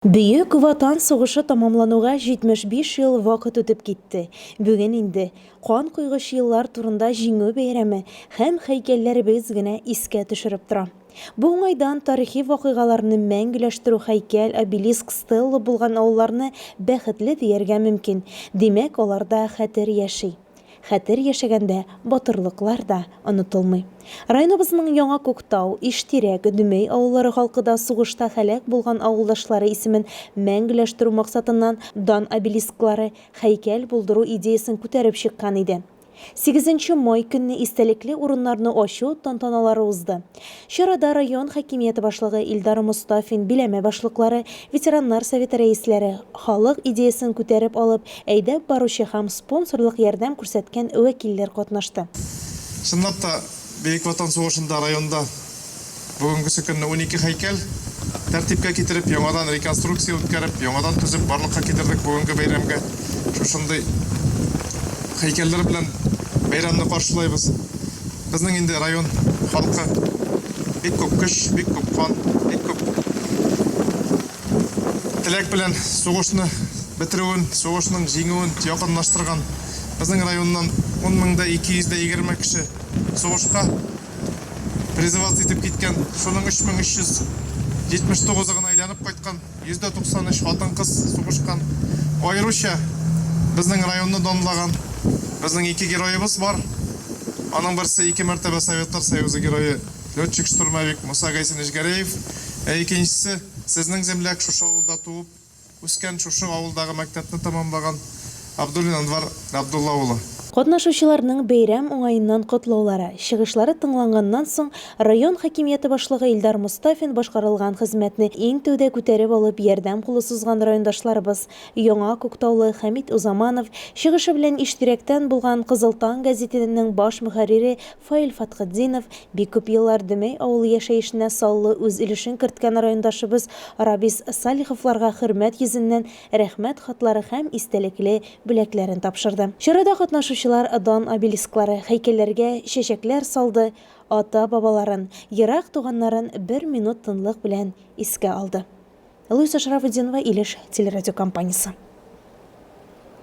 Бөек Ватан сугышы тәмамлануга 75 ел вакыт үтеп китте. Бүген инде кан койгыч еллар турында Җиңү бәйрәме һәм һәйкәлләребез генә искә төшереп тора. Бу уңайдан тарихи вакыйгаларны мәңгеләштерү һәйкәл, обелиск, стелла булган авылларны бәхетле дияргә мөмкин. Димәк, аларда хәтер яши. Хәтер яшәгәндә батырлыклар да онытылмый. Районыбызның Яңа Күктау, Иштирәк, Дөмәй авыллары халкы да сугышта һәлак булган авылдашлары исемен мәңгеләштерү максатыннан дан обелисклары, һәйкәл булдыру идеясен күтәреп чыккан иде. Сигезенче май көнне истәлекле урыннарны ачу тантаналары узды. Чарада район хакимияте башлыгы Илдар Мостафин, биләмә башлыклары, ветераннар советы рәисләре, халык идеясен күтәреп алып, әйдәп баручы һәм спонсорлык ярдәм күрсәткән вәкилләр катнашты. Чынлап та, Бөек Ватан сугышында районда бүгенгесе көнне унике һәйкәл тәртипкә китереп, яңадан реконструкция үткәреп, яңадан төзеп барлыкка китердек. Бүгенге бәйрәмгә шушындый һәйкәлләр белән бәйрәмне каршылайбыз. Безнең инде район халкы бик күп көч, бик күп кан, бик күп теләк белән сугышны бетерүен, сугышның җиңүен якынлаштырган. Безнең районнан 10 мең дә 220 кеше сугышка призываться итеп киткән, шуның 3379-ы гына әйләнеп кайткан. 193 хатын-кыз сугышкан. Аеруча безнең районны данлаган безнең ике героебыз бар. Аның берсе, ике мәртәбә Советлар Союзы Герое, летчик-штурмовик Муса Гайсинович Гәрәев, ә икенчесе, сезнең земляк, шушы авылда туып, үскән, шушы авылдагы мәктәпне тәмамлаган Абдуллин Анвар Габдулла улы. Катнашучыларның бәйрәм уңаеннан котлаулары, чыгышлары тыңланганнан соң, район хакимияте башлыгы Илдар Мостафин башкарылган хезмәтне иң тәүдә күтәреп алып ярдәм кулы сузган райондашларыбыз, Яңа Күктаулы Хәмит Узаманов чыгышы белән Иштирәктән булган Кызыл таң гәзитененең баш мөхәррире Фаил Фатхетдинов, бик күп еллар Дөмәй авылы яшәешенә саллы үз өлешен керткән райондашыбыз Рабис Салиховларга хөрмәт йөзеннән Рәхмәт хатлары һәм истәлекле бүләкләрен тапшырды. Чарада катнашучылар дан обелисклары, һәйкәлләргә чәчәкләр салды, ата-бабаларын, ерак туганнарын бер минут тынлык белән искә алды. Луиза Шарафутдинова, Илеш телерадиокомпаниясе.